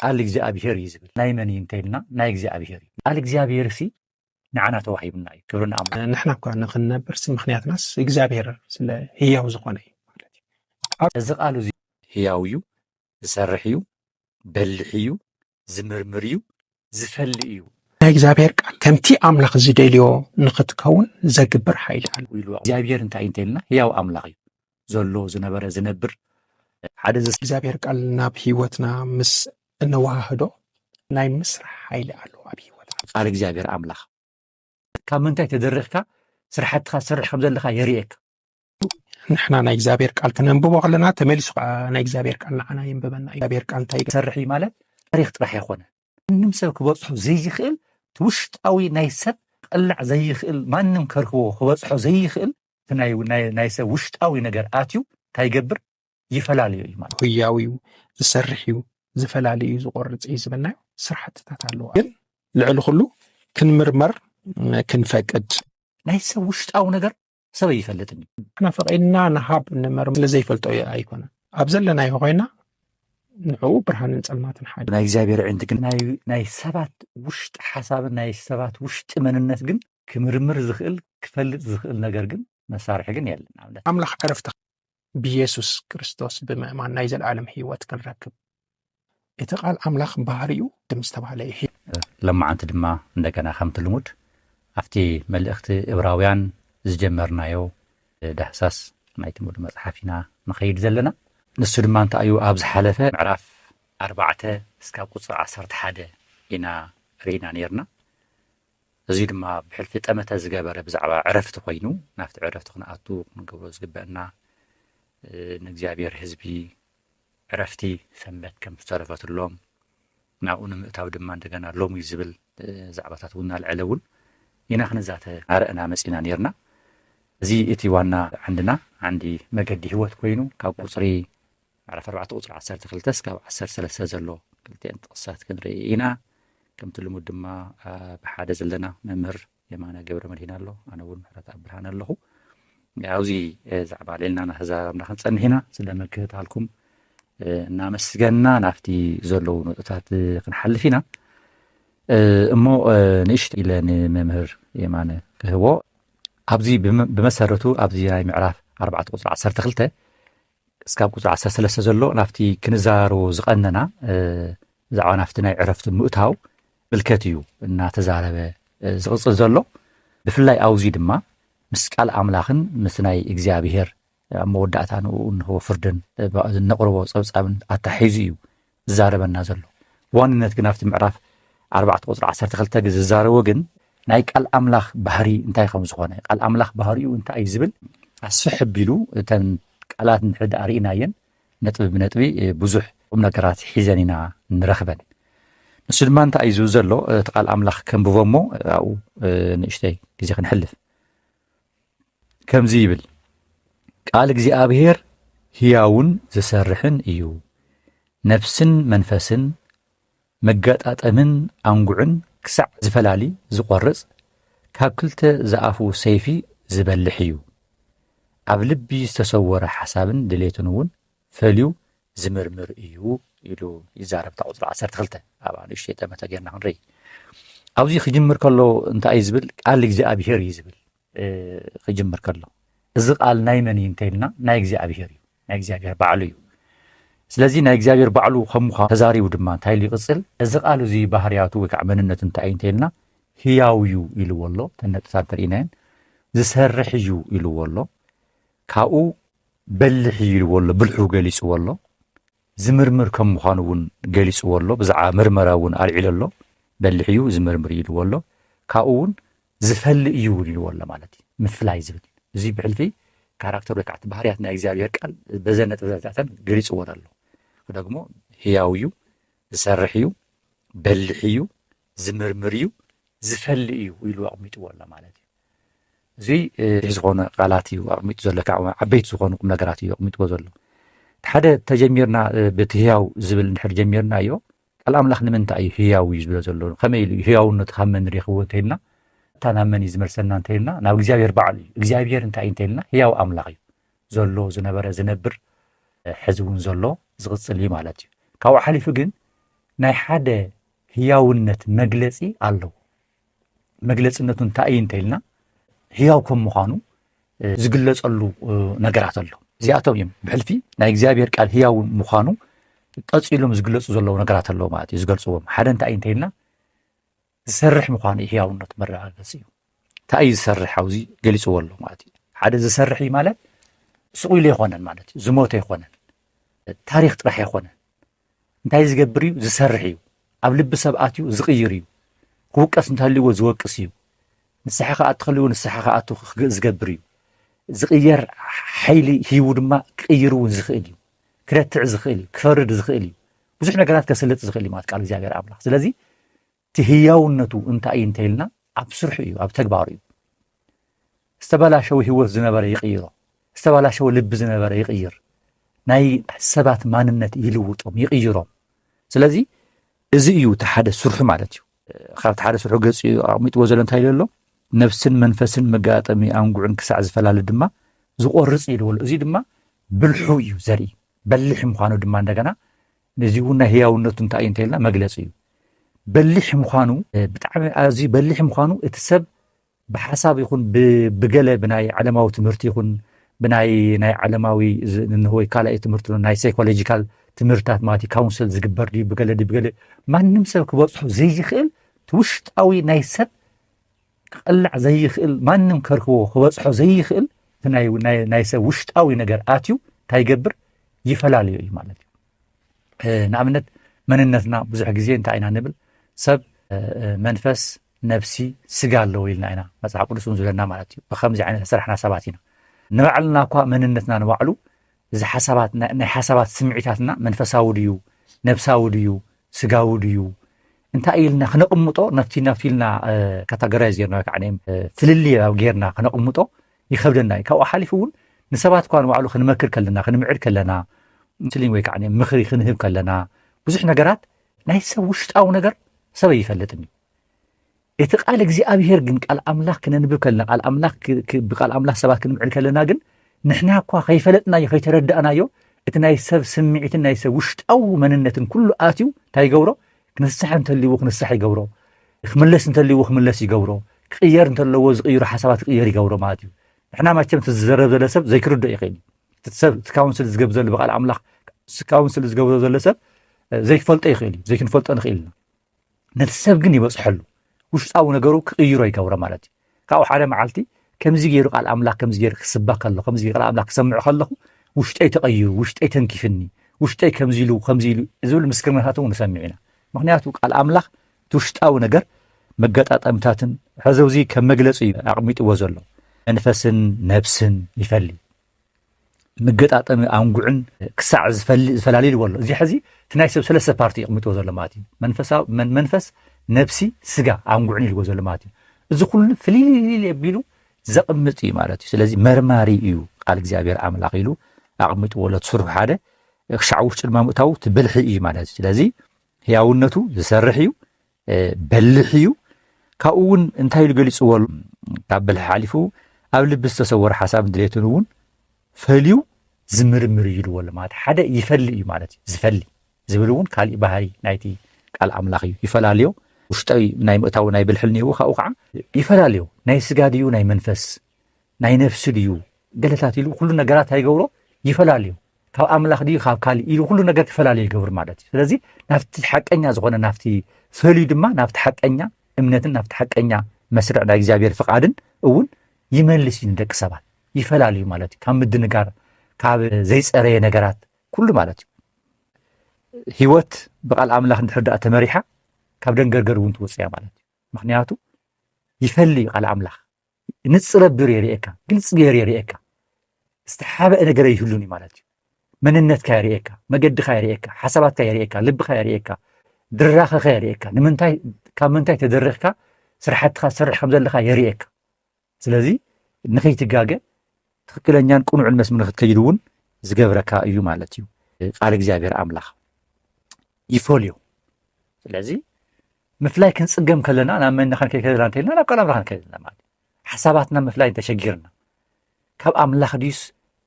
ቃል እግዚኣብሄር እዩ ዝብል ናይ መን እዩ እንተይልና ናይ እግዚኣብሄር እዩ ቃል እግዚኣብሄር ሲ ንዓና ተዋሂቡና እዩ ክብሪ ንኣምላኽ ንሕና እኳ ንክንነብር ሲ ምክንያትናስ እግዚኣብሄር ስለ ህያው ዝኾነ እዩ ማለት እዩ እዚ ቃል እዚ ህያው እዩ ዝሰርሕ እዩ በሊሕ እዩ ዝምርምር እዩ ዝፈሊ እዩ ናይ እግዚኣብሄር ቃል ከምቲ ኣምላኽ ዝደልዮ ንክትከውን ዘግብር ሓይሊ ኣሎ ኢሉ እግዚኣብሄር እንታይ እዩ እንተይልና ህያው ኣምላኽ እዩ ዘሎ ዝነበረ ዝነብር ሓደ እግዚኣብሔር ቃል ናብ ህይወትና ምስ እነወሃህዶ ናይ ምስራሕ ሓይሊ ኣለዎ ኣብ ህይወት ቃል እግዚኣብሔር ኣምላኽ ካብ ምንታይ ተደሪኽካ ስራሕትኻ ዝሰርሕ ከም ዘለካ የርእየካ ንሕና ናይ እግዚኣብሔር ቃል ክነንብቦ ከለና ተመሊሱ ከዓ ናይ እግዚኣብሔር ቃል ንዓና የንብበና እግዚኣብሔር ቃል እንታይ ይሰርሕ እዩ ማለት ታሪክ ጥራሕ ኣይኮነ ምንም ሰብ ክበፅሖ ዘይኽእል ውሽጣዊ ናይ ሰብ ቀላዕ ዘይኽእል ማንም ከርክቦ ክበፅሖ ዘይኽእል እቲ ናይ ሰብ ውሽጣዊ ነገር ኣትዩ እንታይ ይገብር ይፈላለዩ እዩ ማለት ህያው እዩ ዝሰርሕ እዩ ዝፈላለዩ እዩ ዝቆርፅ እዩ ዝብልናዮ ስራሕትታት ኣለዋ ግን ልዕሊ ኩሉ ክንምርመር ክንፈቅድ ናይ ሰብ ውሽጣዊ ነገር ሰብ ኣይፈልጥን እዩ ንሕና ፈቂድና ንሃብ ንመር ስለዘይፈልጦ ኣይኮነን ኣብ ዘለናዮ ኮይና ንዕኡ ብርሃንን ፀልማትን ሓደ ናይ እግዚኣብሔር ዕንቲ ግን ናይ ሰባት ውሽጢ ሓሳብን ናይ ሰባት ውሽጢ መንነት ግን ክምርምር ዝኽእል ክፈልጥ ዝኽእል ነገር ግን መሳርሒ ግን የለን ንኣብነት ኣምላኽ ዕረፍቲ ብየሱስ ክርስቶስ ብምእማን ናይ ዘለዓለም ህይወት ክንረክብ እቲ ቃል ኣምላኽ ባህሪኡ ድም ዝተባህለ እዩ ለማዓንቲ ድማ እንደገና ከምቲ ልሙድ ኣብቲ መልእኽቲ እብራውያን ዝጀመርናዮ ዳህሳስ ናይቲ ሙሉ መፅሓፍ ኢና ንኸይድ ዘለና ንሱ ድማ እንታይ እዩ ኣብ ዝሓለፈ ምዕራፍ ኣርባዕተ እስካብ ቁፅሪ ዓሰርተ ሓደ ኢና ርኢና ነርና እዚ ድማ ብሕልፊ ጠመተ ዝገበረ ብዛዕባ ዕረፍቲ ኮይኑ ናብቲ ዕረፍቲ ክንኣቱ ክንገብሮ ዝግበአና ንእግዚኣብሔር ህዝቢ ዕረፍቲ ሰንበት ከም ዝተረፈትሎም ናብኡ ንምእታው ድማ እንደገና ሎሚ ዝብል ዛዕባታት እውን እናልዐለ እውን ኢና ክንዛተ ኣረእና መፂና ነርና እዚ እቲ ዋና ዓንድና ዓንዲ መገዲ ህይወት ኮይኑ ካብ ቁፅሪ ምዕራፍ ኣርባዕተ ቁጽሪ ዓሰርተ ክልተ ስካብ ዓሰርተ ሰለስተ ዘሎ ክልቲኤን ጥቕስታት ክንርኢ ኢና። ከምቲ ልሙድ ድማ ብሓደ ዘለና መምህር የማነ ገብረመድሂን ኣሎ፣ ኣነ እውን ምሕረትኣብ ብርሃነ ኣለኹ። ኣብዚ ዛዕባ ልዕልና ናተዛረብና ክንጸንሕ ኢና። ስለ ምክትታልኩም እናመስገንና ናብቲ ዘለዉ ነጥብታት ክንሓልፍ ኢና። እሞ ንእሽቶ ኢለ ንመምህር የማነ ክህቦ ኣብዚ ብመሰረቱ ኣብዚ ናይ ምዕራፍ ኣርባዕተ ቁፅሪ ዓሰርተ ክልተ እስካብ ቁፅሪ ዓሰርተ ሰለስተ ዘሎ ናብቲ ክንዘራረቦ ዝቐነና ብዛዕባ ናብቲ ናይ ዕረፍቲ ምእታው ምልከት እዩ እናተዛረበ ዝቕፅል ዘሎ ብፍላይ ኣውዙይ ድማ ምስ ቃል ኣምላኽን ምስ ናይ እግዚኣብሄር ኣብ መወዳእታ ንኡ እንሆ ፍርድን ዝነቕርቦ ፀብፃብን ኣታሒዙ እዩ ዝዛረበና ዘሎ ብዋንነት ግን ኣብቲ ምዕራፍ ኣርባዕተ ቁፅሪ ዓሰርተ ክልተ ዝዛረቦ ግን ናይ ቃል ኣምላኽ ባህሪ እንታይ ከም ዝኾነ ቃል ኣምላኽ ባህሪኡ እንታይ እዩ ዝብል ኣስፍሕ ኣቢሉ እተን ቃላት እንድሕሪ ድኣ ርኢናየን ነጥቢ ብነጥቢ ብዙሕ ቁም ነገራት ሒዘን ኢና ንረኽበን ንሱ ድማ እንታይ እዩ ዝብል ዘሎ እቲ ቃል ኣምላኽ ከንብቦ እሞ ኣብኡ ንእሽተይ ግዜ ክንሕልፍ ከምዚ ይብል ቃል እግዚኣብሔር ሕያውን ዝሰርሕን እዩ ነፍስን መንፈስን መገጣጠምን ኣንጉዕን ክሳዕ ዝፈላሊ ዝቖርጽ ካብ ክልተ ዝኣፉ ሰይፊ ዝበልሕ እዩ ኣብ ልቢ ዝተሰወረ ሓሳብን ድሌትን እውን ፈልዩ ዝምርምር እዩ ኢሉ ይዛረብ እታ ቁጽሪ ዓሰርተ ክልተ ኣብኣ ንእሽተይ ጠመተ ጌርና ክንርኢ ኣብዚ ክጅምር ከሎ እንታይ እዩ ዝብል ቃል እግዚኣብሄር እዩ ዝብል ክጅምር ከሎ እዚ ቃል ናይ መን እዩ እንተይልና ናይ እግዚኣብሄር እዩ ናይ እግዚኣብሄር ባዕሉ እዩ ስለዚ ናይ እግዚኣብሄር ባዕሉ ከምዃ ተዛሪቡ ድማ እንታይ ኢሉ ይቕፅል እዚ ቃል እዚ ባህርያቱ ወይ ከዓ መንነቱ እንታይ እዩ እንተይልና ህያው እዩ ኢልዎ ኣሎ ተነጥታት ተርእናየን ዝሰርሕ እዩ ኢልዎ ኣሎ ካብኡ በሊሕ እዩ ኢልዎ ኣሎ፣ ብልሑ ገሊጽዎ ኣሎ፣ ዝምርምር ከም ምዃኑ እውን ገሊጽዎ ኣሎ፣ ብዛዕባ ምርመራ እውን ኣልዒሉ ኣሎ፣ በሊሕ እዩ፣ ዝምርምር እዩ ኢልዎ ኣሎ፣ ካብኡ እውን ዝፈሊ እዩ እውን ኢልዎ ኣሎ ማለት እዩ፣ ምፍላይ ዝብል እዚ ብሕልፊ ካራክተር ወይ ከዓ ባህርያት ናይ እግዚኣብሔር ቃል በዘን ነጥብታተን ገሊጽዎን ኣሎ። ደግሞ ህያው እዩ፣ ዝሰርሕ እዩ፣ በሊሕ እዩ፣ ዝምርምር እዩ ዝፈሊ እዩ ኢሉ ኣቕሚጥዎ ኣሎ ማለት እዩ እዚ ዝኾነ ቃላት እዩ ኣቕሚጡ ዘሎ ካብ ዓበይቲ ዝኾኑ ቁም ነገራት እዩ ኣቕሚጥዎ ዘሎ ሓደ ተጀሚርና በቲ ህያው ዝብል እንድሕር ጀሚርና እዮ ቃል ኣምላኽ ንምንታይ እዩ ህያው እዩ ዝብሎ ዘሎ ከመይ ኢሉ ህያውነቱ ካብ መን ሬኽዎ እንተይልና እታ ናብ መን እዩ ዝመልሰና እንተይልና ናብ እግዚኣብሔር በዓሉ እዩ እግዚኣብሔር እንታይ እዩ እንተይልና ህያው ኣምላኽ እዩ ዘሎ ዝነበረ ዝነብር ሕዚ እውን ዘሎ ዝቕፅል እዩ ማለት እዩ ካብኡ ሓሊፉ ግን ናይ ሓደ ህያውነት መግለጺ ኣለዎ። መግለጽነቱ እንታይ እዩ እንተኢልና ህያው ከም ምዃኑ ዝግለጸሉ ነገራት ኣሎ። እዚኣቶም እዮም ብሕልፊ ናይ እግዚኣብሔር ቃል ህያው ምዃኑ ቀፂሎም ዝግለፁ ዘለዉ ነገራት ኣለዉ ማለት እዩ ዝገልፅዎም ሓደ እንታይ እዩ እንተይልና ዝሰርሕ ምዃኑ እዩ ህያውነት መረጋገፂ እዩ እንታይ እዩ ዝሰርሕ ኣብዚ ገሊፅዎ ኣሎ ማለት እዩ ሓደ ዝሰርሕ እዩ ማለት ስቑኢሉ ኣይኮነን ማለት እዩ ዝሞተ ኣይኮነን ታሪክ ጥራሕ ኣይኮነን እንታይ ዝገብር እዩ? ዝሰርሕ እዩ። ኣብ ልቢ ሰብ ኣትዩ ዝቕይር እዩ። ክውቀስ እንተሃልይዎ ዝወቅስ እዩ። ንስሓ ክኣቱ ከልዎ ንስሓ ክኣቱ ዝገብር እዩ። ዝቕየር ሓይሊ ሂቡ ድማ ክቕይር እውን ዝኽእል እዩ። ክረትዕ ዝኽእል እዩ። ክፈርድ ዝኽእል እዩ። ብዙሕ ነገራት ከስልጥ ዝኽእል እዩ ማለት ቃል እግዚኣብሔር ኣምላኽ ስለዚ እቲ ህያውነቱ እንታይ እዩ እንተይልና ኣብ ስርሑ እዩ፣ ኣብ ተግባሩ እዩ። ዝተበላሸወ ህይወት ዝነበረ ይቕይሮ፣ ዝተበላሸወ ልቢ ዝነበረ ይቕይር፣ ናይ ሰባት ማንነት ይልውጦም ይቕይሮም። ስለዚ እዚ እዩ እቲ ሓደ ስርሑ ማለት እዩ። ካብቲ ሓደ ስርሑ ገፂ ኣቕሚጥዎ ዘሎ እንታይ ኢሉ ኣሎ ነብስን መንፈስን መጋጠሚ ኣንጉዕን ክሳዕ ዝፈላለ ድማ ዝቆርፅ ኢልዎ ኣሎ። እዚ ድማ ብልሑ እዩ ዘርኢ በሊሕ ምዃኑ ድማ እንደገና ነዚ እውን ናይ ህያውነቱ እንታይ እዩ እንተኢልና መግለፂ እዩ በሊሕ ምዃኑ ብጣዕሚ ኣዝዩ በሊሕ ምዃኑ እቲ ሰብ ብሓሳብ ይኹን ብገለ ብናይ ዓለማዊ ትምህርቲ ይኹን ብናይ ናይ ዓለማዊ ወይ ካልኣይ ትምህርቲ ናይ ሳይኮሎጂካል ትምህርትታት ማለት እዩ ካውንስል ዝግበር ድዩ ብገለ ድዩ ብገለ ማንም ሰብ ክበፅሖ ዘይኽእል እቲ ውሽጣዊ ናይ ሰብ ክቐላዕ ዘይኽእል ማንም ከርክቦ ክበጽሖ ዘይኽእል እቲ ናይ ሰብ ውሽጣዊ ነገር ኣትዩ እንታይ ይገብር ይፈላለዮ እዩ ማለት እዩ ንኣብነት መንነትና ብዙሕ ግዜ እንታይ ኢና ንብል ሰብ መንፈስ ነብሲ ስጋ ኣለዎ ኢልና ኢና መፅሓፍ ቅዱስ እውን ዝብለና ማለት እዩ ብከምዚ ዓይነት ዝሰራሕና ሰባት ኢና ንባዕልና እኳ መንነትና ንባዕሉ እዚ ሓሳባት ናይ ሓሳባት ስምዒታትና መንፈሳዊ ድዩ ነብሳዊ ድዩ ስጋዊ ድዩ እንታይ ኢልና ክነቕምጦ ናብቲ ናብቲ ኢልና ካታጎራይዝ ጌርና ከዓ ፍልልይ ኣብ ጌርና ክነቕምጦ ይኸብደና እዩ ካብኡ ሓሊፉ እውን ንሰባት እኳ ንባዕሉ ክንመክር ከለና ክንምዕድ ከለና ስሊም ወይ ከዓ ምኽሪ ክንህብ ከለና ብዙሕ ነገራት ናይ ሰብ ውሽጣዊ ነገር ሰበ ይፈልጥን እዩ እቲ ቃል እግዚኣብሄር ግን ቃል ኣምላኽ ክነንብብ ከለና ቃል ኣምላኽ ብቃል ኣምላኽ ሰባት ክንምዕድ ከለና ግን ንሕና እኳ ከይፈለጥናዮ ከይተረዳእናዮ እቲ ናይ ሰብ ስምዒትን ናይ ሰብ ውሽጣዊ መንነትን ኩሉ ኣትዩ እንታይ ይገብሮ ክንስሕ እንተልዎ ክንስሕ ይገብሮ ክምለስ እንተልዎ ክምለስ ይገብሮ ክቕየር እንተለዎ ዝቕይሩ ሓሳባት ክቕየር ይገብሮ ማለት እዩ ንሕና መቸም እቲ ዝዘረብ ዘለ ሰብ ዘይክርዶ ይኽእል እዩ እቲ ሰብ እቲ ካውንስል ዝገብ ዘሎ ብቃል ኣምላኽ እቲ ካውንስል ዝገብሮ ዘሎ ሰብ ዘይክፈልጦ ይኽእል እዩ ዘይክንፈልጦ ንኽእል ኢና ነቲ ሰብ ግን ይበፅሐሉ ውሽጣዊ ነገሩ ክቕይሮ ይገብሮ ማለት እዩ ካብኡ ሓደ መዓልቲ ከምዚ ገይሩ ቃል ኣምላኽ ከምዚ ገይሩ ክስባ ከሎ ከምዚ ቃል ኣምላኽ ክሰምዕ ከለኹ ውሽጠይ ተቐይሩ ውሽጠይ ተንኪፍኒ ውሽጠይ ከምዚ ኢሉ ከምዚ ኢሉ ዝብል ምስክርነታት እውን ንሰምዕ ኢና ምክንያቱ ቃል ኣምላኽ እቲ ውሽጣዊ ነገር መገጣጠምታትን ሕዘውዚ ከም መግለፂ እዩ ኣቕሚጥዎ ዘሎ መንፈስን ነብስን ይፈሊ መገጣጠሚ ኣንጉዕን ክሳዕ ዝፈላለዩ በሎ እዚ ሕዚ እቲ ናይ ሰብ ሰለስተ ፓርቲ የቕሚጥዎ ዘሎ ማለት እዩ መንፈስ ነብሲ ስጋ ኣንጉዕን ኢልዎ ዘሎ ማለት እዩ እዚ ኩሉ ፍልልልል ኣቢሉ ዘቕምጥ እዩ ማለት እዩ ስለዚ መርማሪ እዩ ቃል እግዚኣብሔር ኣምላኽ ኢሉ ኣቕሚጥዎ ኣሎ ትስርሑ ሓደ ክሻዕ ውሽጢ ድማ ምእታው ትብልሒ እዩ ማለት እዩ ስለዚ ህያውነቱ ዝሰርሕ እዩ በሊሕ እዩ። ካብኡ እውን እንታይ ኢሉ ገሊፅዎ ካብ በልሒ ሓሊፉ ኣብ ልቢ ዝተሰወረ ሓሳብን ድሌትን እውን ፈልዩ ዝምርምር እዩ ኢልዎ ኣሎ ማለት ሓደ ይፈሊ እዩ ማለት እዩ ዝፈሊ ዝብል እውን ካሊእ ባህሪ ናይቲ ቃል ኣምላኽ እዩ ይፈላለዮ ውሽጣዊ ናይ ምእታዊ ናይ ብልሒ እኒሄዎ ካብኡ ከዓ ይፈላለዮ ናይ ስጋ ድዩ ናይ መንፈስ ናይ ነፍሲ ድዩ ገለታት ኢሉ ኩሉ ነገራት ኣይገብሮ ይፈላለዩ ካብ ኣምላኽ ድዩ ካብ ካልእ ኢሉ ኩሉ ነገር ተፈላለዩ ይገብር ማለት እዩ ስለዚ ናብቲ ሓቀኛ ዝኾነ ናብቲ ፈልዩ ድማ ናብቲ ሓቀኛ እምነትን ናብቲ ሓቀኛ መስርዕ ናይ እግዚኣብሔር ፍቓድን እውን ይመልስ እዩ ንደቂ ሰባት ይፈላለዩ ማለት እዩ ካብ ምድንጋር ካብ ዘይፀረየ ነገራት ኩሉ ማለት እዩ ህይወት ብቃል ኣምላኽ እንድሕር ድኣ ተመሪሓ ካብ ደንገርገር እውን ትወፅያ ማለት እዩ ምክንያቱ ይፈሊ ቃል ኣምላኽ ብንጽረ ብር የርእየካ፣ ግልጽ ገይሩ የርእየካ። ዝተሓበአ ነገር ይህሉን እዩ ማለት እዩ። መንነትካ የርእየካ፣ መገድኻ የርእየካ፣ ሓሳባትካ የርእየካ፣ ልብኻ የርእየካ፣ ድራኸኸ የርእየካ፣ ንምንታይ ካብ ምንታይ ተደሪኽካ ስራሕትኻ ዝሰርሕ ከም ዘለኻ የርእየካ። ስለዚ ንኸይትጋገ ትኽክለኛን ቅኑዕን መስም ንክትከይድ እውን ዝገብረካ እዩ ማለት እዩ። ቃል እግዚኣብሔር ኣምላኽ ይፈልዮ። ስለዚ ምፍላይ ክንጽገም ከለና ናብ መን ክንከይድ ከለና እንተልና ናብ ቃል ኣምላኽ ክንከይድ ኣለና ማለት እዩ ሓሳባትና ምፍላይ እንተሸጊርና ካብ ኣምላኽ ድዩስ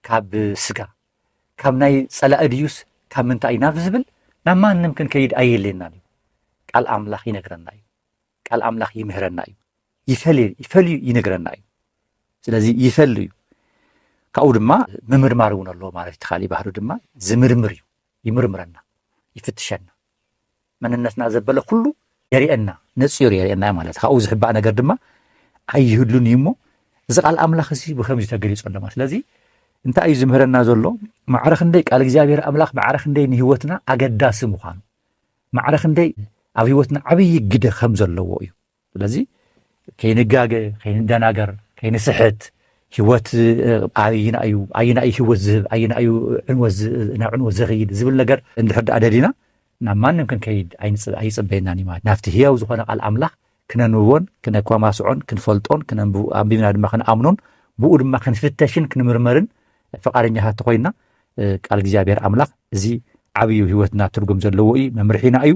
ካብ ስጋ ካብ ናይ ጸላኢ ድዩስ ካብ ምንታይ እዩ ናብ ዝብል ናብ ማንም ክንከይድ ኣየድልየናን እዩ ቃል ኣምላኽ ይነግረና እዩ ቃል ኣምላኽ ይምህረና እዩ ይፈልዩ ይነግረና እዩ ስለዚ ይፈል እዩ ካብኡ ድማ ምምርማር እውን ኣለዎ ማለት እቲ ካሊእ ባህሪ ድማ ዝምርምር እዩ ይምርምረና ይፍትሸና መንነትና ዘበለ ኩሉ የርእየና ነፂሩ የርእየና እዩ ማለት ካብኡ ዝሕባእ ነገር ድማ ኣይህሉን እዩ እሞ እዚ ቃል ኣምላኽ እዚ ብከምዚ ተገሊፁ ኣለማ ስለዚ እንታይ እዩ ዝምህረና ዘሎ ማዕረ ክንደይ ቃል እግዚኣብሔር ኣምላኽ ማዕረ ክንደይ ንህይወትና ኣገዳሲ ምዃኑ ማዕረ ክንደይ ኣብ ህይወትና ዓብዪ ግደ ከም ዘለዎ እዩ። ስለዚ ከይንጋገ፣ ከይንደናገር፣ ከይንስሕት ህይወት ኣየና እዩ ኣየና እዩ ህይወት ዝህብ ኣየና እዩ ናብ ዕንወት ዘኽይድ ዝብል ነገር እንድሕር ደኣ ደሊና ናብ ማንም ክንከይድ ኣይጽበየናን እዩ ማለት ናብቲ ህያው ዝኾነ ቃል ኣምላኽ ክነንብቦን ክነኳማስዖን ክንፈልጦን ክነንብ ኣንቢብና ድማ ክንኣምኖን ብኡ ድማ ክንፍተሽን ክንምርመርን ፍቃደኛታት ተኾይንና ቃል እግዚኣብሔር ኣምላኽ እዚ ዓብዩ ህይወትና ትርጉም ዘለዎ እዩ መምርሒና እዩ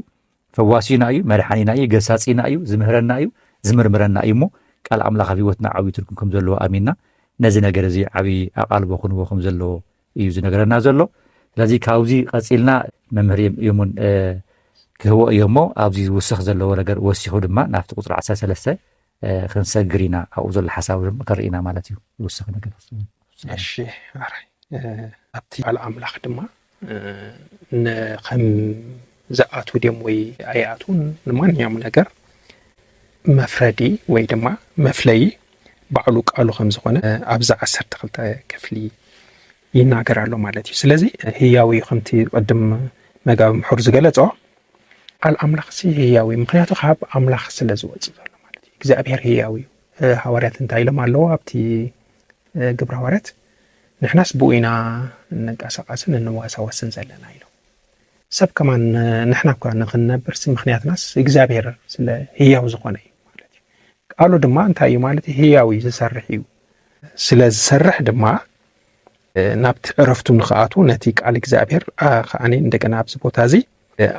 ፈዋሲና እዩ መድሓኒና እዩ ገሳፂና እዩ ዝምህረና እዩ ዝምርምረና እዩ እሞ ቃል ኣምላኽ ኣብ ህይወትና ዓብዪ ትርጉም ከም ዘለዎ ኣሚንና ነዚ ነገር እዚ ዓብዪ ኣቓልቦ ክንቦ ከም ዘለዎ እዩ ዝነገረና ዘሎ ስለዚ ካብዚ ቀፂልና መምህር የሙን ክህቦ እዮ እሞ ኣብዚ ዝውስኽ ዘለዎ ነገር ወሲኹ ድማ ናብቲ ቁፅሪ ዓሳ ሰለስተ ክንሰግር ኢና ኣብኡ ዘሎ ሓሳብ ከርኢና ማለት እዩ ዝውስኽ ነገር እሺ ኣብቲ ባል ኣምላኽ ድማ ከም ዝኣትው ድዮም ወይ ኣይኣትዉን ንማንኛውም ነገር መፍረዲ ወይ ድማ መፍለዪ ባዕሉ ቃሉ ከም ዝኾነ ኣብዚ ዓሰርተ ክልተ ክፍሊ ይናገር ኣሎ ማለት እዩ ስለዚ ህያው እዩ ከምቲ ቅድም መጋቢ ምሑር ዝገለጾ ቃል ኣምላኽ ሲ ህያው እዩ ምክንያቱ ካብ ኣምላኽ ስለ ዝወፅእ ዘሎ ማለት እዩ እግዚኣብሄር ህያው እዩ ሃዋርያት እንታይ ኢሎም ኣለዎ ኣብቲ ግብረ ሃዋርያት ንሕናስ ብኡ ኢና እንንቀሳቐስን እንዋሳወስን ዘለና ኢሎም ሰብ ከማን ንሕና እኳ ንኽንነብርሲ ምኽንያትናስ እግዚኣብሔር ስለ ህያው ዝኾነ እዩ ማለት እዩ ቃሉ ድማ እንታይ እዩ ማለት እዩ ህያው እዩ ዝሰርሕ እዩ ስለ ዝሰርሕ ድማ ናብቲ ዕረፍቱ ንኽኣቱ ነቲ ቃል እግዚኣብሔር ከዓኒ እንደገና ኣብዚ ቦታ እዚ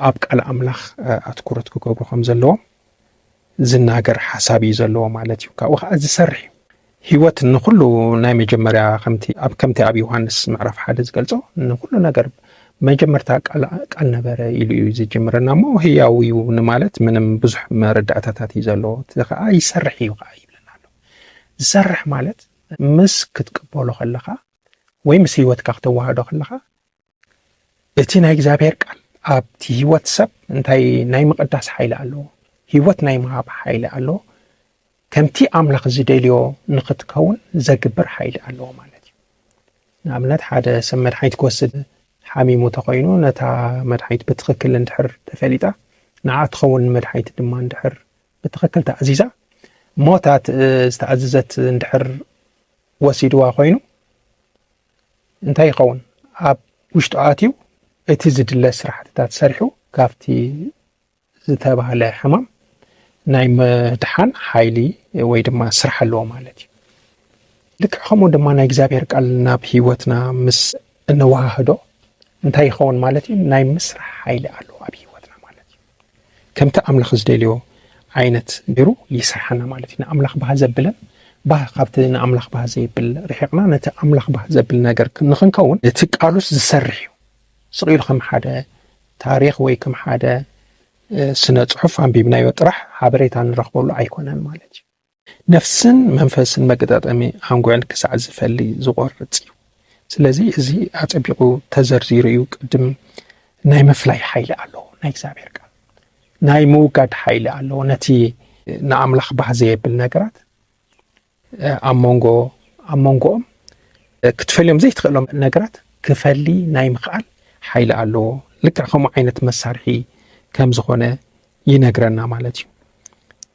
ኣብ ቃል ኣምላኽ ኣትኩረት ክገብሩ ከም ዘለዎም ዝናገር ሓሳብ እዩ ዘለዎ ማለት እዩ ካብኡ ከዓ ዝሰርሕ እዩ ህይወት ንኩሉ ናይ መጀመርያ ከምቲ ኣብ ከምቲ ኣብ ዮሃንስ ምዕራፍ ሓደ ዝገልጾ ንኩሉ ነገር መጀመርታ ቃል ቃል ነበረ ኢሉ እዩ ዝጅምረና እሞ ህያው እዩ ንማለት ምንም ብዙሕ መረዳእታታት እዩ ዘለዎ እቲ ከዓ ይሰርሕ እዩ ከዓ ይብለና ኣሎ ዝሰርሕ ማለት ምስ ክትቅበሎ ከለካ ወይ ምስ ህይወትካ ክተዋህዶ ከለካ እቲ ናይ እግዚኣብሔር ቃል ኣብቲ ህይወት ሰብ እንታይ ናይ ምቕዳስ ሓይሊ ኣለዎ ህይወት ናይ ምሃብ ሓይሊ ኣለዎ ከምቲ ኣምላኽ ዝደልዮ ንኽትከውን ዘግብር ሓይሊ ኣለዎ ማለት እዩ ንኣብነት ሓደ ሰብ መድሓኒት ክወስድ ሓሚሙ ተኮይኑ ነታ መድሓኒት ብትኽክል እንድሕር ተፈሊጣ ንዓ ትኸውን መድሓኒት ድማ እንድሕር ብትኽክል ተኣዚዛ ሞታት ዝተኣዘዘት እንድሕር ወሲድዋ ኮይኑ እንታይ ይኸውን ኣብ ውሽጡ ኣትዩ እቲ ዝድለ ስራሕትታት ሰሪሑ ካብቲ ዝተባህለ ሕማም ናይ ምድሓን ሓይሊ ወይ ድማ ስራሕ ኣለዎ ማለት እዩ ልክዕ ከምኡ ድማ ናይ እግዚኣብሔር ቃል ናብ ህይወትና ምስ እንወሃህዶ እንታይ ይኸውን ማለት እዩ ናይ ምስራሕ ሓይሊ ኣለዎ ኣብ ህይወትና ማለት እዩ ከምቲ ኣምላኽ ዝደልዮ ዓይነት ገይሩ ይስርሓና ማለት እዩ ንኣምላኽ ባህ ዘብለን ባህ ካብቲ ንኣምላኽ ባህ ዘይብል ርሒቕና ነቲ ኣምላኽ ባህ ዘብል ነገር ንክንከውን እቲ ቃሉስ ዝሰርሕ እዩ ስቕ ኢሉ ከም ሓደ ታሪኽ ወይ ከም ሓደ ስነ ጽሑፍ ኣንቢብናዮ ጥራሕ ሓበሬታ ንረኽበሉ ኣይኮነን ማለት እዩ ነፍስን መንፈስን መገጣጠሚ ኣንጉዕን ክሳዕ ዝፈሊ ዝቆርጽ እዩ። ስለዚ እዚ ኣጸቢቁ ተዘርዚሩ እዩ ቅድም ናይ ምፍላይ ሓይሊ ኣለዎ ናይ እግዚኣብሔር ቃል ናይ ምውጋድ ሓይሊ ኣለዎ ነቲ ንኣምላኽ ባህ ዘየብል ነገራት ኣብ መንጎ ኣብ መንጎኦም ክትፈልዮም ዘይትኽእሎም ነገራት ክፈሊ ናይ ምኽኣል ሓይሊ ኣለዎ ልክዕ ከምኡ ዓይነት መሳርሒ ከም ዝኾነ ይነግረና ማለት እዩ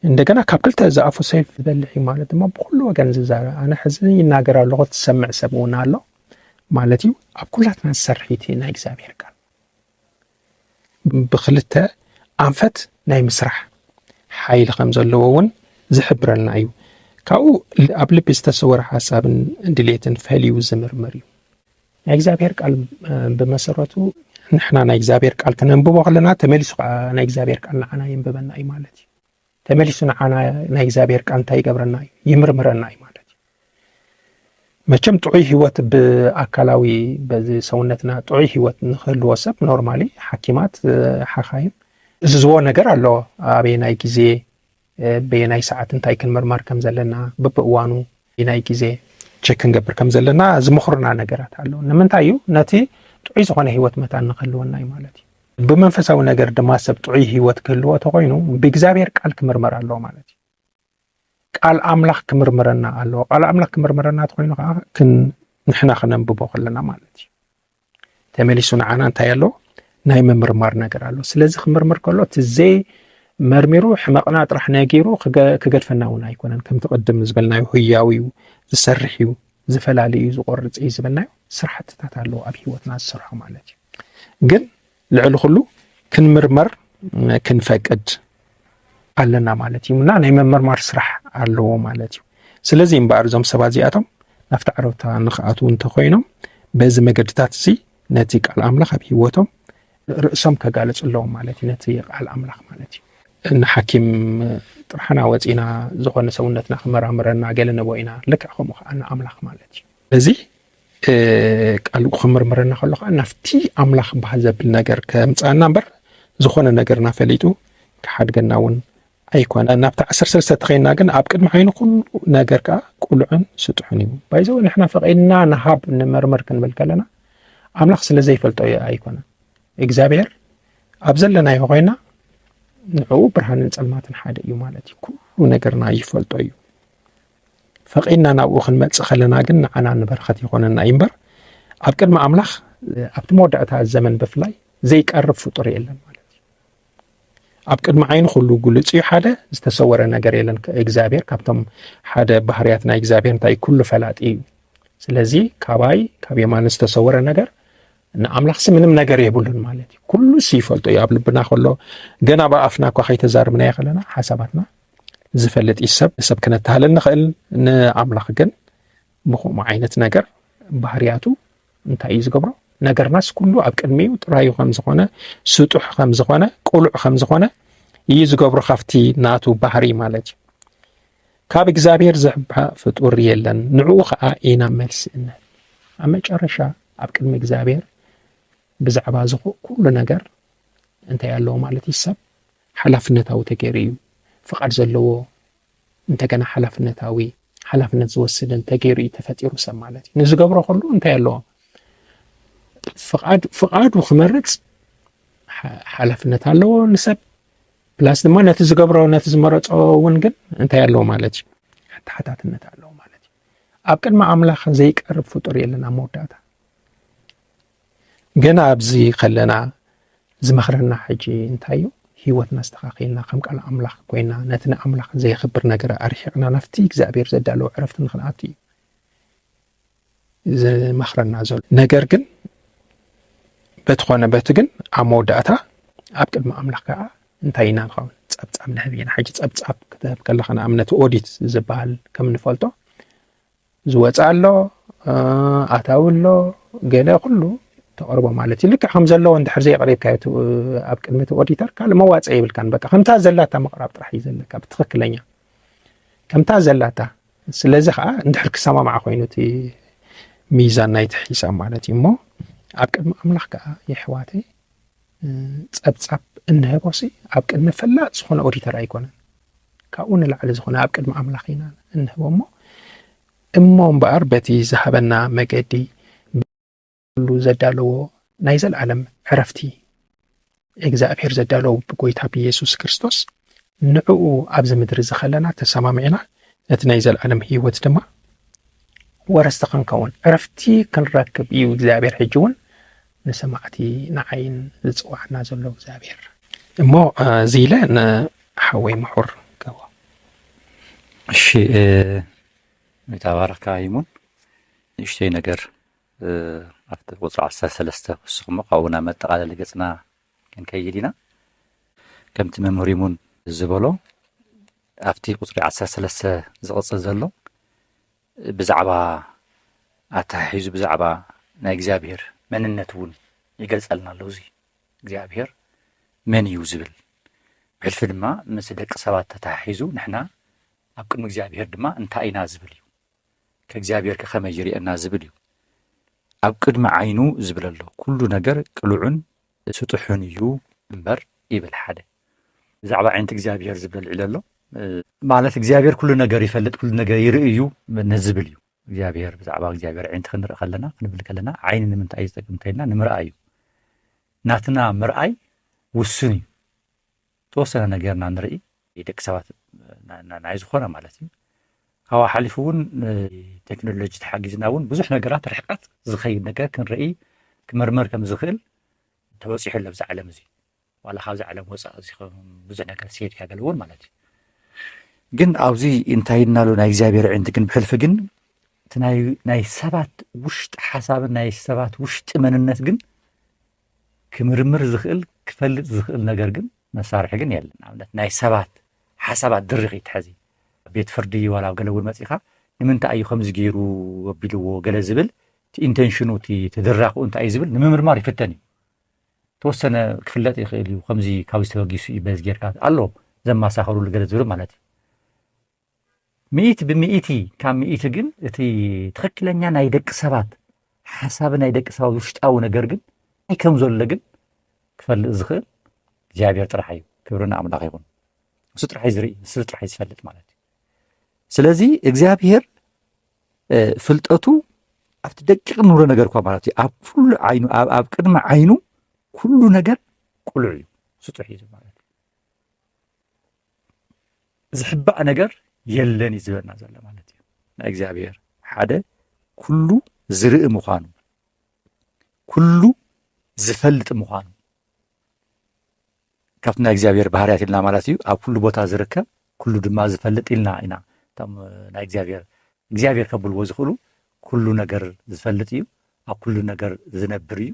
እንደገና ካብ ክልተ ዝኣፉ ሰይፍ ዝበልሕ እዩ ማለት ድማ ብኩሉ ወገን ዝዛረብ ኣነ ሕዚ ይናገር ኣለኹ ትሰምዕ ሰብ እውን ኣሎ ማለት እዩ ኣብ ኩላትና ዝሰርሒት ናይ እግዚኣብሔር ቃል ብክልተ ኣንፈት ናይ ምስራሕ ሓይሊ ከም ዘለዎ እውን ዝሕብረልና እዩ ካብኡ ኣብ ልቢ ዝተሰወረ ሓሳብን ድሌትን ፈልዩ ዝምርምር እዩ ናይ እግዚኣብሔር ቃል ብመሰረቱ ንሕና ናይ እግዚኣብሔር ቃል ክነንብቦ ከለና ተመሊሱ ከዓ ናይ እግዚኣብሔር ቃል ንዓና የንብበና እዩ ማለት እዩ ተመሊሱ ንዓና ናይ እግዚኣብሔር ቃል እንታይ ይገብረና እዩ ይምርምረና እዩ ማለት እዩ መቸም ጥዑይ ህይወት ብኣካላዊ በዚ ሰውነትና ጥዑይ ህይወት ንክህልዎ ሰብ ኖርማሊ ሓኪማት ሓኻይም እዝዝዎ ነገር ኣሎ ኣበየናይ ግዜ በየናይ ሰዓት እንታይ ክንምርመር ከም ዘለና ብብእዋኑ ናይ ግዜ ቸክ ክንገብር ከም ዘለና ዝምኽሩና ነገራት ኣሎ። ንምንታይ እዩ? ነቲ ጥዑይ ዝኾነ ህይወት መታን ንክህልወና እዩ ማለት እዩ። ብመንፈሳዊ ነገር ድማ ሰብ ጥዑይ ህይወት ክህልዎ ተኾይኑ ብእግዚኣብሔር ቃል ክምርመር ኣለዎ ማለት እዩ። ቃል ኣምላኽ ክምርምረና ኣለዎ። ቃል ኣምላኽ ክምርምረና ተኾይኑ ከዓ ንሕና ክነንብቦ ከለና ማለት እዩ። ተመሊሱ ንዓና እንታይ ኣሎ ናይ ምምርማር ነገር ኣሎ ስለዚ ክምርምር ከሎ እቲ ዘይ መርሚሩ ሕመቕና ጥራሕ ነጊሩ ክገድፈና እውን ኣይኮነን ከምቲ ቅድም ዝበልናዮ ህያው እዩ ዝሰርሕ እዩ ዝፈላለ እዩ ዝቆርፅ እዩ ዝበልናዮ ስራሕትታት ኣለዎ ኣብ ሂወትና ዝሰርሖ ማለት እዩ ግን ልዕሊ ኩሉ ክንምርመር ክንፈቅድ ኣለና ማለት እዩ እና ናይ ምምርማር ስራሕ ኣለዎ ማለት እዩ ስለዚ እምበኣር እዞም ሰባት እዚኣቶም ናብቲ ዓረብታ ንክኣትዉ እንተኮይኖም በዚ መገድታት እዚ ነቲ ቃል ኣምላኽ ኣብ ሂወቶም ርእሶም ከጋልፅ ኣለዎም ማለት እዩ ነቲ ቃል ኣምላኽ ማለት እዩ ንሓኪም ጥራሕና ወፂና ዝኾነ ሰውነትና ክመራምረና ገለ ንቦ ኢና ልክዕ ከምኡ ከዓ ንኣምላኽ ማለት እዩ እዚ ቃሉ ክምርምረና ከሎ ከዓ ናብቲ ኣምላኽ በሃል ዘብል ነገር ከምፅኣና እምበር ዝኾነ ነገርና ፈሊጡ ክሓድገና እውን ኣይኮነ ናብቲ ዓሰርተ ሰለስተ ተኸይና ግን ኣብ ቅድሚ ዓይኒ ኩሉ ነገር ከዓ ቁልዑን ስጡሕን እዩ ባይዘው ንሕና ፈቂድና ንሃብ ንመርምር ክንብል ከለና ኣምላኽ ስለ ዘይፈልጦ እዩ ኣይኮነ እግዚኣብሔር ኣብ ዘለናዮ ኮይና ንዕኡ ብርሃንን ፀልማትን ሓደ እዩ ማለት እዩ ኩሉ ነገርና ይፈልጦ እዩ ፈቒድና ናብኡ ክንመጽእ ከለና ግን ንዓና ንበረኸት ይኾነና እዩ እምበር ኣብ ቅድሚ ኣምላኽ ኣብቲ መወዳእታ ዘመን ብፍላይ ዘይቀርብ ፍጡር የለን ማለት እዩ ኣብ ቅድሚ ዓይኑ ኩሉ ግሉፅ እዩ ሓደ ዝተሰወረ ነገር የለን እግዚኣብሔር ካብቶም ሓደ ባህርያት ናይ እግዚኣብሔር እንታይ ኩሉ ፈላጢ እዩ ስለዚ ካባይ ካብ የማን ዝተሰወረ ነገር ንኣምላኽሲ ምንም ነገር የብሉን ማለት እዩ ኩሉ ሲ ይፈልጦ እዩ ኣብ ልብና ከሎ ገና ብኣፍና እኳ ከይተዛርብናዮ ከለና ሓሳባትና ዝፈልጥ እዩ ሰብ ንሰብ ክነተሃልል ንኽእል ንኣምላኽ ግን ንኹምኡ ዓይነት ነገር ባህርያቱ እንታይ እዩ ዝገብሮ ነገርናስ ኩሉ ኣብ ቅድሚኡ ጥራዩ ከም ዝኾነ ስጡሕ ከም ዝኾነ ቁሉዕ ከም ዝኾነ እዩ ዝገብሮ ካብቲ ናቱ ባህሪ ማለት እዩ ካብ እግዚኣብሔር ዝሕብሐ ፍጡር የለን ንዕኡ ከዓ ኢና መልሲ እንህብ ኣብ መጨረሻ ኣብ ቅድሚ እግዚኣብሔር ብዛዕባ ዝኾ ኩሉ ነገር እንታይ ኣለዎ ማለት እዩ ሰብ ሓላፍነታዊ ተገይሩ እዩ። ፍቓድ ዘለዎ እንተገና ሓላፍነታዊ፣ ሓላፍነት ዝወስድን ተገይሩ እዩ ተፈጢሩ ሰብ ማለት እዩ። ንዝገብሮ ከሉ እንታይ ኣለዎ? ፍቓድ ፍቓዱ ክመርጽ ሓላፍነት ኣለዎ ንሰብ ፕላስ ድማ ነቲ ዝገብሮ ነቲ ዝመረጾ እውን ግን እንታይ ኣለዎ ማለት እዩ? ተሓታትነት ኣለዎ ማለት እዩ። ኣብ ቅድሚ ኣምላኽ ዘይቀርብ ፍጡር የለን ኣብ መወዳእታ ገና ኣብዚ ከለና ዝመኽረና ሕጂ እንታይ እዩ ህይወትና ኣስተኻኺልና ከም ቃል ኣምላኽ ኮይና ነቲ ንኣምላኽ ዘየኽብር ነገር ኣርሒቕና ናብቲ እግዚኣብሔር ዘዳለዎ ዕረፍቲ ንክንኣቱ እዩ ዝመኽረና ዘሎ ነገር ግን በቲ ኾነ በቲ ግን ኣብ መወዳእታ ኣብ ቅድሚ ኣምላኽ ከዓ እንታይ ኢና ንኸውን ፀብፃብ ንህብ ኢና ሕጂ ፀብፃብ ክትህብ ከለካ ንኣብነት ኦዲት ዝበሃል ከም ንፈልጦ ዝወጽእ ኣሎ ኣታዊ ኣሎ ገለ ኩሉ ተቕርቦ ማለት እዩ ልክዕ ከም ዘለዎ እንድሕር ዘየቕሪብካዮ ኣብ ቅድሚ እቲ ኦዲተር ካልእ መዋፅኢ የብልካን በቃ ከምታ ዘላታ ምቕራብ ጥራሕ እዩ ዘለካ ብትኽክለኛ ከምታ ዘላታ ስለዚ ከዓ እንድሕር ክሰማማዕ ኮይኑ እቲ ሚዛን ናይቲ ሒሳብ ማለት እዩ እሞ ኣብ ቅድሚ ኣምላኽ ከዓ የሕዋተይ ጸብጻብ እንህቦሲ ኣብ ቅድሚ ፈላጥ ዝኾነ ኦዲተር ኣይኮነን ካብኡ ንላዕሊ ዝኾነ ኣብ ቅድሚ ኣምላኽ ኢና እንህቦ እሞ እሞ እምበኣር በቲ ዝሃበና መገዲ ብሉ ዘዳለዎ ናይ ዘለዓለም ዕረፍቲ እግዚኣብሔር ዘዳለዎ ብጎይታ ብኢየሱስ ክርስቶስ ንዕኡ ኣብዚ ምድሪ እዚ ከለና ተሰማሚዕና ነቲ ናይ ዘለዓለም ህይወት ድማ ወረስቲ ክንከውን ዕረፍቲ ክንረክብ እዩ እግዚኣብሔር ሕጂ እውን ንሰማዕቲ ንዓይን ዝጽውዓና ዘሎ እግዚኣብሔር። እሞ እዚ ኢለ ንሓወይ ምሑር ገቦ። እሺ ይትባረክ ካይሙን ንእሽተይ ነገር ኣብቲ ቁፅሪ ዓሰርተ ሰለስተ ክውስኽሞ ካብኡ ናብ መጠቓለሊ ገፅና ክንከይድ ኢና ከምቲ መምህር ይሙን ዝበሎ ኣብቲ ቁፅሪ ዓሰርተ ሰለስተ ዝቕፅል ዘሎ ብዛዕባ ኣተሓሒዙ ብዛዕባ ናይ እግዚኣብሄር መንነት እውን ይገልጸልና ኣሎ። እዚ እግዚኣብሄር መን እዩ ዝብል ብሕልፊ ድማ ምስ ደቂ ሰባት ተተሓሒዙ ንሕና ኣብ ቅድሚ እግዚኣብሄር ድማ እንታይ ኢና ዝብል እዩ ከእግዚኣብሄር ከኸመይ ይርእየና ዝብል እዩ ኣብ ቅድሚ ዓይኑ ዝብል ኣሎ ኩሉ ነገር ቅሉዑን ስጡሑን እዩ እምበር ይብል ሓደ ብዛዕባ ዓይነቲ እግዚኣብሔር ዝበል ዒለ ኣሎ ማለት እግዚኣብሔር ኩሉ ነገር ይፈልጥ ኩሉ ነገር ይርኢ እዩ ንዝብል እዩ እግዚኣብሔር ብዛዕባ እግዚኣብሔር ዓይነቲ ክንርኢ ከለና ክንብል ከለና ዓይኒ ንምንታይ እዩ ዝጠቅም ከልና ንምርኣይ እዩ ናትና ምርኣይ ውሱን እዩ ተወሰነ ነገርና ንርኢ ደቂ ሰባት ናይ ዝኾነ ማለት እዩ ካብኡ ሓሊፉ እውን ቴክኖሎጂ ተሓጊዝና እውን ብዙሕ ነገራት ርሕቀት ዝኸይድ ነገር ክንርኢ ክምርምር ከም ዝኽእል ተበፂሑ ኣሎ ብዛ ዓለም እዚ ዋላ ካብዚ ዓለም ወፃእ እዚ ብዙሕ ነገር ሲሄድ ካገል እውን ማለት እዩ ግን ኣብዚ እንታይ እናሉ ናይ እግዚኣብሔር ዕንቲ ግን ብሕልፊ ግን እቲ ናይ ሰባት ውሽጢ ሓሳብን ናይ ሰባት ውሽጢ መንነት ግን ክምርምር ዝኽእል ክፈልጥ ዝኽእል ነገር ግን መሳርሒ ግን የለን ንኣብነት ናይ ሰባት ሓሳባት ድርኺ ትሐዚ ቤት ፍርዲ ዋላ ኣብ ገለ እውን መፂኻ ንምንታይ እዩ ከምዚ ገይሩ ኣቢልዎ ገለ ዝብል እቲ ኢንቴንሽኑ እቲ ተደራኽኡ እንታይ እዩ ዝብል ንምምርማር ይፍተን እዩ ተወሰነ ክፍለጥ ይኽእል እዩ ከምዚ ካብዚ ተበጊሱ እዩ በዚ ጌርካ ኣሎ ዘማሳኸሩሉ ገለ ዝብል ማለት እዩ ሚእቲ ብሚእቲ ካብ ሚእቲ ግን እቲ ትኽክለኛ ናይ ደቂ ሰባት ሓሳብ ናይ ደቂ ሰባት ውሽጣዊ ነገር ግን እንታይ ከም ዘሎ ግን ክፈልጥ ዝኽእል እግዚኣብሔር ጥራሕ እዩ ክብሪ ንኣምላኽ ይኹን ንሱ ጥራሕ ዝርኢ ንሱ ጥራሕ ዝፈልጥ ማለት እዩ ስለዚ እግዚኣብሔር ፍልጠቱ ኣብቲ ደቂቕ ንብሎ ነገር እኳ ማለት እዩ ኣብ ኩሉ ዓይኑ ኣብ ቅድሚ ዓይኑ ኩሉ ነገር ቁሉዕ እዩ ስጡሕ እዩ ማለት እዩ ዝሕባእ ነገር የለን እዩ ዝበልና ዘሎ ማለት እዩ ናይ እግዚኣብሔር ሓደ ኩሉ ዝርኢ ምዃኑ ኩሉ ዝፈልጥ ምዃኑ ካብቲ ናይ እግዚኣብሔር ባህርያት ኢልና ማለት እዩ ኣብ ኩሉ ቦታ ዝርከብ ኩሉ ድማ ዝፈልጥ ኢልና ኢና እቶም ናይ እግዚኣብሔር እግዚኣብሔር ከብልዎ ዝኽእሉ ኩሉ ነገር ዝፈልጥ እዩ ኣብ ኩሉ ነገር ዝነብር እዩ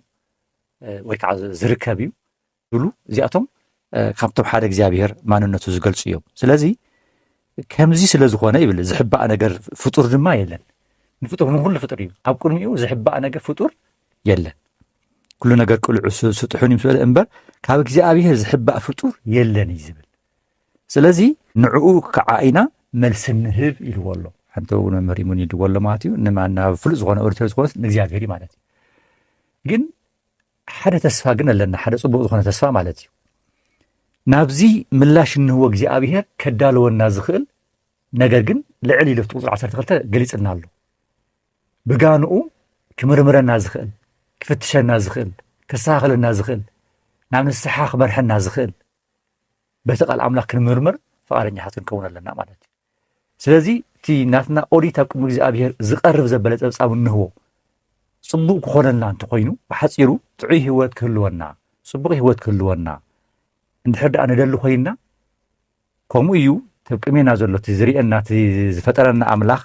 ወይ ከዓ ዝርከብ እዩ ብሉ እዚኣቶም ካብቶም ሓደ እግዚኣብሔር ማንነቱ ዝገልፁ እዮም ስለዚ ከምዚ ስለ ዝኾነ ይብል ዝሕባእ ነገር ፍጡር ድማ የለን ንፍጡር ንኩሉ ፍጡር እዩ ኣብ ቅድሚኡ ዝሕባእ ነገር ፍጡር የለን ኩሉ ነገር ቅልዑ ስጡሑን እዩ ስበለ እምበር ካብ እግዚኣብሄር ዝሕባእ ፍጡር የለን እዩ ዝብል ስለዚ ንዕኡ ከዓ ኢና መልሲ ንህብ ኢልዎ ኣሎ ሓንቲ እውን መምህር ይሙን ይድዎ ኣሎ ማለት እዩ ንማናብ ፍሉጥ ዝኾነ ኦዲተር ዝኾነ ንእግዚኣብሄር እዩ ማለት እዩ ግን ሓደ ተስፋ ግን ኣለና ሓደ ፅቡቅ ዝኾነ ተስፋ ማለት እዩ ናብዚ ምላሽ እንህዎ እግዚኣብሄር ከዳለወና ዝኽእል ነገር ግን ልዕል ኢሉ ቁፅሪ 12 ገሊፅና ኣሎ ብጋንኡ ክምርምረና ዝኽእል ክፍትሸና ዝኽእል ከስተኻኽለና ዝኽእል ናብ ንስሓ ክመርሐና ዝኽእል በቲ ቃል ኣምላኽ ክንምርምር ፍቓደኛታት ክንከውን ኣለና ማለት እዩ ስለዚ እቲ ናትና ኦዲት ኣብ ቅድሚ እግዚኣብሄር ዝቐርብ ዘበለ ፀብፃብ እንህቦ ፅቡቕ ክኾነልና እንተኮይኑ ብሓፂሩ ጥዑይ ህይወት ክህልወና ፅቡቕ ህይወት ክህልወና እንድሕር ደኣ ንደሊ ኮይንና ከምኡ እዩ እብ ቅሜና ዘሎ እቲ ዝርኤና እቲ ዝፈጠረና ኣምላኽ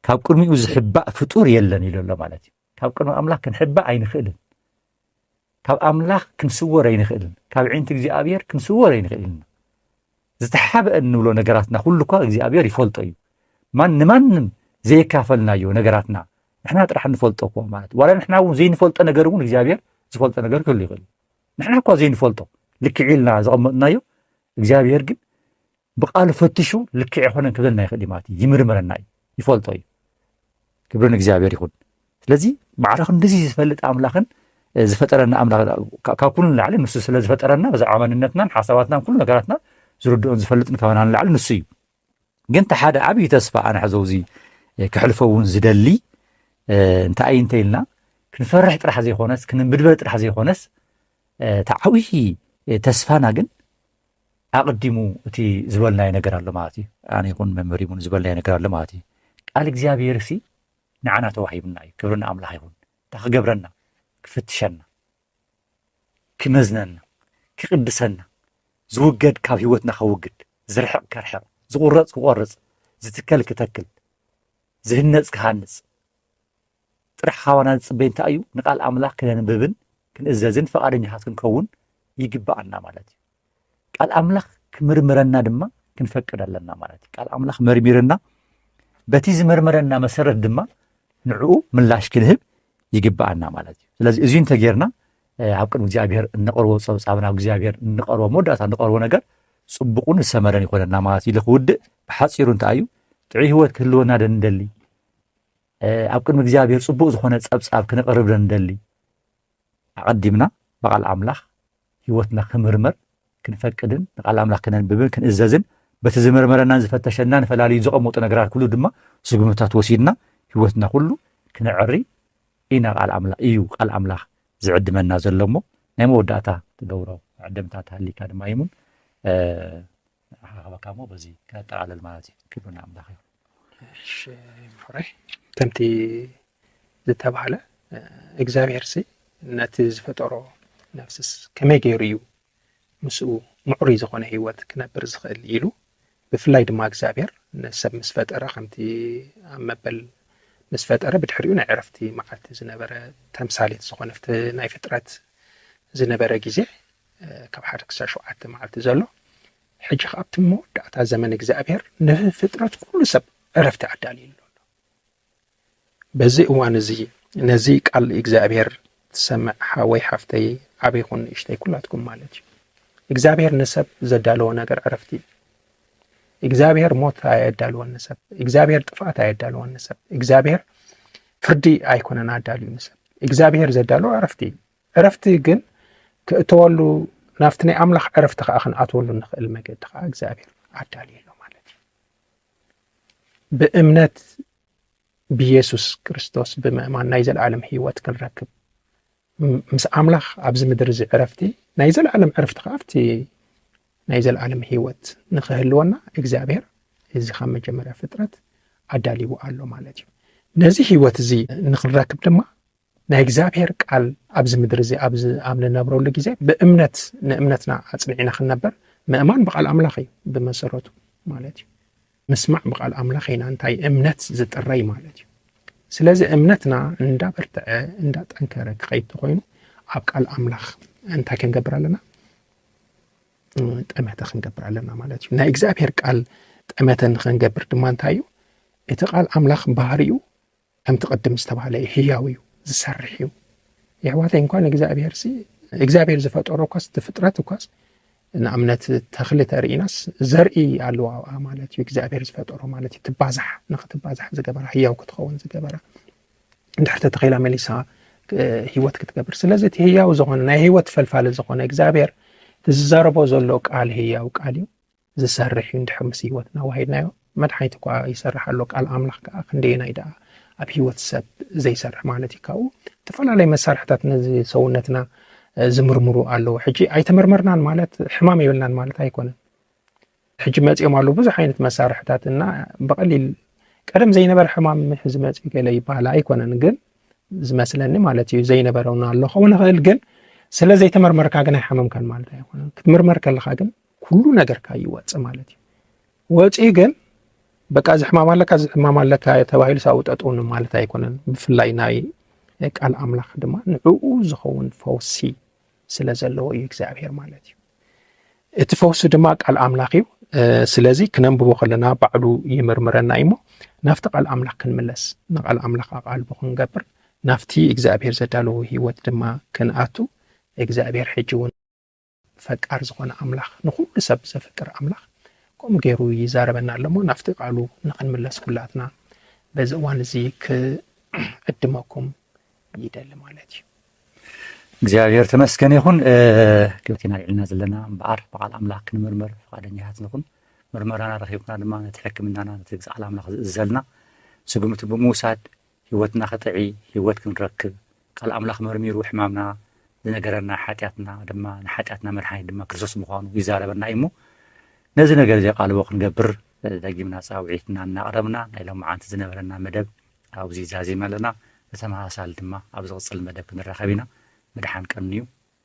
ካብ ቅድሚኡ ዝሕባእ ፍጡር የለን ኢሉ ኣሎ ማለት እዩ ካብ ቅድሚ ኣምላኽ ክንሕባእ ኣይንኽእልን ካብ ኣምላኽ ክንስወር ኣይንኽእልን ካብ ዒንቲ እግዚኣብሔር ክንስወር ኣይንኽእልን ኢና ዝተሓበአ እንብሎ ነገራትና ኩሉ እኳ እግዚኣብሔር ይፈልጦ እዩ ማን ንማንም ዘየካፈልናዮ ነገራትና ንሕና ጥራሕ ንፈልጦ እኮ ማለት ዋላ ንሕና እውን ዘይንፈልጦ ነገር እውን እግዚኣብሔር ዝፈልጦ ነገር ክህሉ ይኽእል ንሕና እኳ ዘይንፈልጦ ልክዕ ኢልና ዘቐመጥናዮ እግዚኣብሄር ግን ብቃሉ ፈትሹ ልክዕ ይኮነን ክብለና ይኽእል እዩ ማለት እዩ ይምርምረና እዩ ይፈልጦ እዩ ክብሪ ንእግዚኣብሄር ይኹን ስለዚ ባዕሉ ክንዲዚ ዝፈልጥ ኣምላኽን ዝፈጠረና ኣምላኽ ካብ ኩሉ ንላዕሊ ንሱ ስለ ዝፈጠረና ብዛዕባ መንነትናን ሓሳባትናን ኩሉ ነገራትና ዝርድኦን ዝፈልጥን ካባና ንላዕሊ ንሱ እዩ ግን እቲ ሓደ ዓብዪ ተስፋ ኣነ ሕዞ እዚ ክሕልፎ እውን ዝደሊ እንታይ እዩ እንተይልና ክንፈርሕ ጥራሕ ዘይኮነስ ክንምድበር ጥራሕ ዘይኮነስ እቲ ዓብዪ ተስፋና ግን ኣቕዲሙ እቲ ዝበልናዮ ነገር ኣሎ ማለት እዩ ኣነ ይኹን መምህር ይኹን ዝበልናዮ ነገር ኣሎ ማለት እዩ ቃል እግዚኣብሔር ሲ ንዓና ተዋሂብና እዩ ክብሪ ንኣምላኽ ይኹን እንታይ ክገብረና ክፍትሸና ክመዝነና ክቅድሰና ዝውገድ ካብ ህይወትና ከውግድ ዝርሕቅ ከርሕቅ ዝቁረፅ ክቆርፅ ዝትከል ክተክል ዝህነፅ ክሃንፅ ጥራሕ ካባና ዝፅበይ እንታይ እዩ ንቃል ኣምላኽ ክነንብብን ክንእዘዝን ፈቃደኛታት ክንከውን ይግበኣና ማለት እዩ ቃል ኣምላኽ ክምርምረና ድማ ክንፈቅድ ኣለና ማለት እዩ ቃል ኣምላኽ መርሚርና በቲ ዝመርመረና መሰረት ድማ ንዕኡ ምላሽ ክንህብ ይግብኣና ማለት እዩ ስለዚ እዚ እንተጌርና ኣብ ቅድሚ እግዚኣብሔር እንቐርቦ ፀብፃብ ናብ እግዚኣብሔር እንቐርቦ መወዳእታ እንቐርቦ ነገር ፅቡቕን ዝሰመረን ይኮነና ማለት እዩ ክውድእ ብሓፂሩ እንታይ እዩ ጥዑይ ህይወት ክህልወና ደ ንደሊ ኣብ ቅድሚ እግዚኣብሔር ፅቡቅ ዝኾነ ፀብፃብ ክነቕርብ ደ ንደሊ ኣቐዲምና ብቓል ኣምላኽ ህይወትና ክምርመር ክንፈቅድን ንቓል ኣምላኽ ክነንብብን ክንእዘዝን በቲ ዝምርመረናን ዝፈተሸናን ፈላልዩ ዘቐመጡ ነገራት ኩሉ ድማ ስጉምትታት ወሲድና ህይወትና ኩሉ ክነዕሪ ኢና ቃል ኣምላኽ እዩ ቃል ኣምላኽ ዝዕድመና ዘሎ እሞ ናይ መወዳእታ ትገብሮ ዕድምታት ሃሊካ ድማ ይሙን ንረኻኸበካ እሞ በዚ ከነጠቓልል ማለት እዩ ክብሪ ንኣምላኽ ይኹን እሺ ምሑረይ ከምቲ ዝተባህለ እግዚኣብሄር ሲ ነቲ ዝፈጠሮ ነፍስስ ከመይ ገይሩ እዩ ምስኡ ምዕሩይ ዝኾነ ህይወት ክነብር ዝኽእል ኢሉ ብፍላይ ድማ እግዚኣብሄር ንሰብ ምስ ፈጠረ ከምቲ ኣብ መበል ምስ ፈጠረ ብድሕሪኡ ናይ ዕረፍቲ መዓልቲ ዝነበረ ተምሳሌት ዝኾነ ናይ ፍጥረት ዝነበረ ግዜ ካብ ሓደ ክሳብ ሸውዓተ መዓልቲ ዘሎ ሕጂ ከ ኣብቲ መወዳእታ ዘመን እግዚኣብሔር ንፍጥረት ኩሉ ሰብ ዕረፍቲ ኣዳልዩ ኣሎ በዚ እዋን እዚ ነዚ ቃል እግዚኣብሔር ትሰምዕ ሓወይ ሓፍተይ ዓብ ይኹን ንእሽተይ ኩላትኩም ማለት እዩ እግዚኣብሔር ንሰብ ዘዳለዎ ነገር ዕረፍቲ እዩ እግዚኣብሔር ሞት ኣየዳልወን ንሰብ እግዚኣብሔር ጥፍኣት ኣየዳልወን ንሰብ እግዚኣብሔር ፍርዲ ኣይኮነን ኣዳልዩ ንሰብ እግዚኣብሔር ዘዳለዎ ዕረፍቲ እዩ ዕረፍቲ ግን ክእተወሉ ናብቲ ናይ ኣምላኽ ዕረፍቲ ከኣ ክንኣትወሉ ንኽእል መገዲ ከኣ እግዚኣብሔር ኣዳልዩ ኣሎ ማለት እዩ ብእምነት ብየሱስ ክርስቶስ ብምእማን ናይ ዘለዓለም ህይወት ክንረክብ ምስ ኣምላኽ ኣብዚ ምድሪ እዚ ዕረፍቲ ናይ ዘለዓለም ዕረፍቲ ከዓ ኣብቲ ናይ ዘለዓለም ህይወት ንኽህልወና እግዚኣብሔር እዚ ካብ መጀመርያ ፍጥረት ኣዳልዎ ኣሎ ማለት እዩ ነዚ ህይወት እዚ ንክንረክብ ድማ ናይ እግዚኣብሔር ቃል ኣብዚ ምድሪ እዚ ኣብዚ ኣብ ንነብረሉ ግዜ ብእምነት ንእምነትና ኣጽኒዕና ክንነበር ምእማን ብቃል ኣምላኽ እዩ ብመሰረቱ ማለት እዩ። ምስማዕ ብቃል ኣምላኽ ኢና እንታይ እምነት ዝጥረይ ማለት እዩ። ስለዚ እምነትና እንዳበርትዐ እንዳጠንከረ ክኸይድ ተኾይኑ ኣብ ቃል ኣምላኽ እንታይ ክንገብር ኣለና ጠመተ ክንገብር ኣለና ማለት እዩ ናይ እግዚኣብሔር ቃል ጠመተ ንክንገብር ድማ እንታይ እዩ እቲ ቃል ኣምላኽ ባህሪኡ ከምቲ ቅድም ዝተባህለ እዩ ህያው እዩ ዝሰርሕ እዩ የሕዋተይ እንኳን እግዚኣብሔር ሲ እግዚኣብሔር ዝፈጠሮ እኳስ እቲ ፍጥረት እኳስ ንኣብነት ተኽሊ ተርኢናስ ዘርኢ ኣለዋ ኣብኣ ማለት እዩ እግዚኣብሔር ዝፈጠሮ ማለት እዩ ትባዛሕ ንክትባዛሕ ዝገበራ ህያው ክትኸውን ዝገበራ እንድሕር ተተኺላ መሊሳ ህይወት ክትገብር ስለዚ እቲ ህያው ዝኾነ ናይ ህይወት ፈልፋሊ ዝኾነ እግዚኣብሔር ዝዛረቦ ዘሎ ቃል ህያው ቃል እዩ ዝሰርሕ እዩ እንድሕር ምስ ህይወትና ኣዋሂድናዮ መድሓኒት እኳ ይሰርሕ ኣሎ ቃል ኣምላኽ ከኣ ክንደየናይ ደኣ ኣብ ህይወት ሰብ ዘይሰርሕ ማለት እዩ ካብኡ እተፈላለየ መሳርሕታት ነዚ ሰውነትና ዝምርምሩ ኣለዉ ሕጂ ኣይተመርመርናን ማለት ሕማም የብልናን ማለት ኣይኮነን ሕጂ መፅኦም ኣለዉ ብዙሕ ዓይነት መሳርሕታት እና ብቐሊል ቀደም ዘይነበረ ሕማም ሕዚ መፅኡ ገለ ይበሃል ኣይኮነን ግን ዝመስለኒ ማለት እዩ ዘይነበረውና ኣሎ ከውን ይኽእል ግን ስለ ዘይተመርመርካ ግን ኣይሓመምካን ማለት ኣይኮነን ክትምርመር ከለካ ግን ኩሉ ነገርካ ይወፅእ ማለት እዩ ወፂ ግን በቃ እዚ ሕማም ኣለካ እዚ ሕማም ኣለካ ተባሂሉ ሳብ ጠጥውን ማለት ኣይኮነን ብፍላይ ናይ ቃል ኣምላኽ ድማ ንዕኡ ዝኸውን ፈውሲ ስለ ዘለዎ እዩ እግዚኣብሄር ማለት እዩ እቲ ፈውሲ ድማ ቃል ኣምላኽ እዩ ስለዚ ክነንብቦ ከለና ባዕሉ ይምርምረና እዩ እሞ ናብቲ ቃል ኣምላኽ ክንምለስ ንቃል ኣምላኽ ኣቓልቦ ክንገብር ናብቲ እግዚኣብሄር ዘዳለዎ ህይወት ድማ ክንኣቱ እግዚኣብሄር ሕጂ እውን ፈቃር ዝኾነ ኣምላኽ ንኹሉ ሰብ ዘፍቅር ኣምላኽ ከምኡ ገይሩ ይዛረበና ኣለሞ ናፍቲ ቃሉ ንኽንምለስ ኩላትና በዚ እዋን እዚ ክዕድመኩም ይደሊ ማለት እዩ እግዚኣብሔር ተመስገን ይኹን ክብቲ ኢና ልዕልና ዘለና እምበኣር ብቃል ኣምላኽ ክንምርምር ፍቃደኛታት ንኹን ምርመራና ረኪብና ድማ ነቲ ሕክምናና ነቲ ቃል ኣምላኽ ዝእዘልና ስጉምቲ ብምውሳድ ሕይወትና ክጥዒ ሕይወት ክንረክብ ቃል ኣምላኽ መርሚሩ ሕማምና ዝነገረና ሓጢኣትና ድማ ንሓጢኣትና መድሓኒት ድማ ክርስቶስ ምዃኑ ይዛረበና እዩ እሞ ነዚ ነገር እዚ ቃልቦ ክንገብር ደጊምና ጻውዒትና እናቕረብና ናይ ሎም መዓንቲ ዝነበረና መደብ ኣብዚ ዛዚም ኣለና ብተመሳሳሊ ድማ ኣብ ዝቕጽል መደብ ክንራኸብ ኢና ምድሓን ቀንዩ